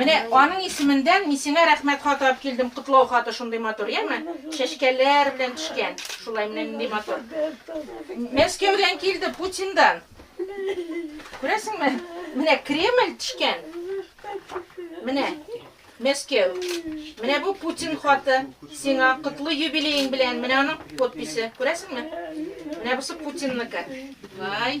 Менә аның исеменнән мин сиңа рәхмәт хаты алып килдем, котлау хаты шундый матур, яме? Чәчкәләр белән төшкән. Шулай менә нинди матур. Мәскәүдән килде, Путиндан. Күрәсеңме? Менә Кремль төшкән. Менә Мәскәү. Менә бу Путин хаты. Сиңа котлы юбилеең белән. Менә аның подписе. Күрәсеңме? Менә бусы Путинныкы. Вай.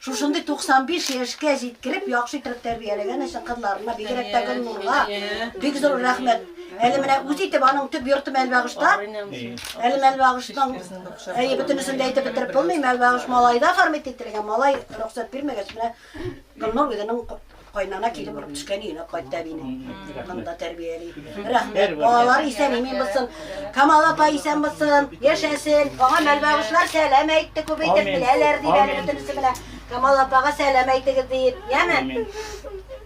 Шушындый 95 яшькә җиткереп, яхшы итеп тәрбияләгән өчен кызларына, бигрәк тә Гөлнурга бик зур рәхмәт. Әле менә үз итеп аның төп йорты Мәлбагышта. Әле Мәлбагышның әйе бөтенесен дә әйтеп бетереп булмый. Мәлбагыш малайда формит ителгән. Малай рөхсәт бирмәгәч менә Гөлнур үзенең Кайнана киле булып төшкән өенә кайтты әбине. Монда тәрбияли. Рәхмәт. Балалар исән имин булсын. Камал апа исән булсын. Яшәсен. Аңа мәлбәгышлар сәлам әйтте. Күп әйтеп беләләр дип әле бөтенесе белән. Камал апага сәлам әйтегез дип. Яме?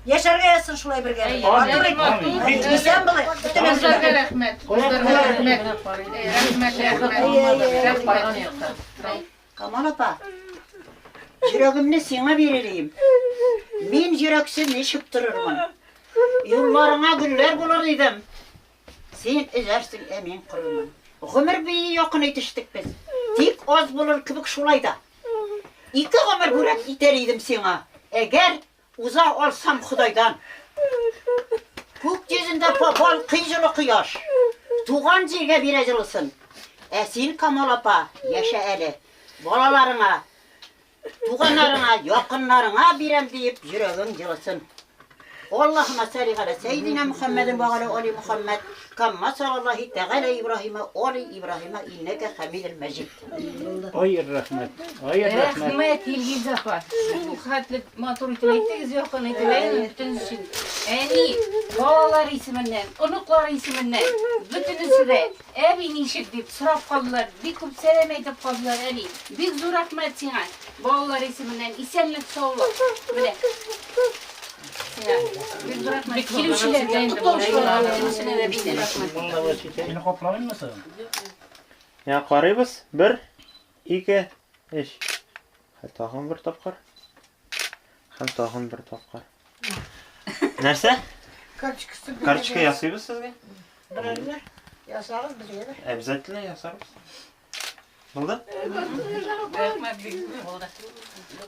Яшәргә язсын шулай бергә. Матур итеп. Исән булы. Бөтенесе. Кызларга рәхмәт. Кызларга рәхмәт. Рәхмәт, рәхмәт. Рәхмәт. Камал апа, йөрәгемне сиңа бирелим. Мин йөрәксез ничек торырмын? Юлларыңа гөлләр булыр идем. Син эзәрсең, ә мин корырмын. Гомер бии якын итештек без. Тик аз булыр кебек шулай да. Ике гомер бүләк итәр идем сиңа, әгәр Уза алсам Ходайдан. Күк йөзендә балкый җылы кояш. Туган җиргә бирә җылысын. Ә син, Камал апа, яшә әле. Балаларыңа, туганнарыңа, якыннарыңа бирәм диеп йөрәгең җылысын. Аллаһума сәли галә сәйдинә Мөхәммәдин вә галә али Мөхәммәд. Камма салаллаһи тәгалә Ибраһимә оли Ибраһимә иннәкә хәмидел мәҗид. Ой, рәхмәт. Ой, рәхмәт. Рәхмәт, Илгиз апа. Шул хәтле матур итеп әйттегез, якын итеп. Әйе, бөтен өчен. Әни, балалар исеменнән, оныклар исеменнән, бөтенесе дә, әби ничек дип сорап калдылар. Бик күп сәлам әйтеп калдылар, әни. Бик зур рәхмәт сиңа. Балалар исеменнән исәнлек-саулык. Менә. Я карыйбыз. Бер, ике, эш. Тагын бер тапкыр. Һәм тагын бер тапкыр. Нәрсә? Карточкасы. Карточка ясыйбыз сезгә? Берәрне ясагыз безгә дә. Обязательно ясарбыз. Булды? Рәхмәт бик. Булды.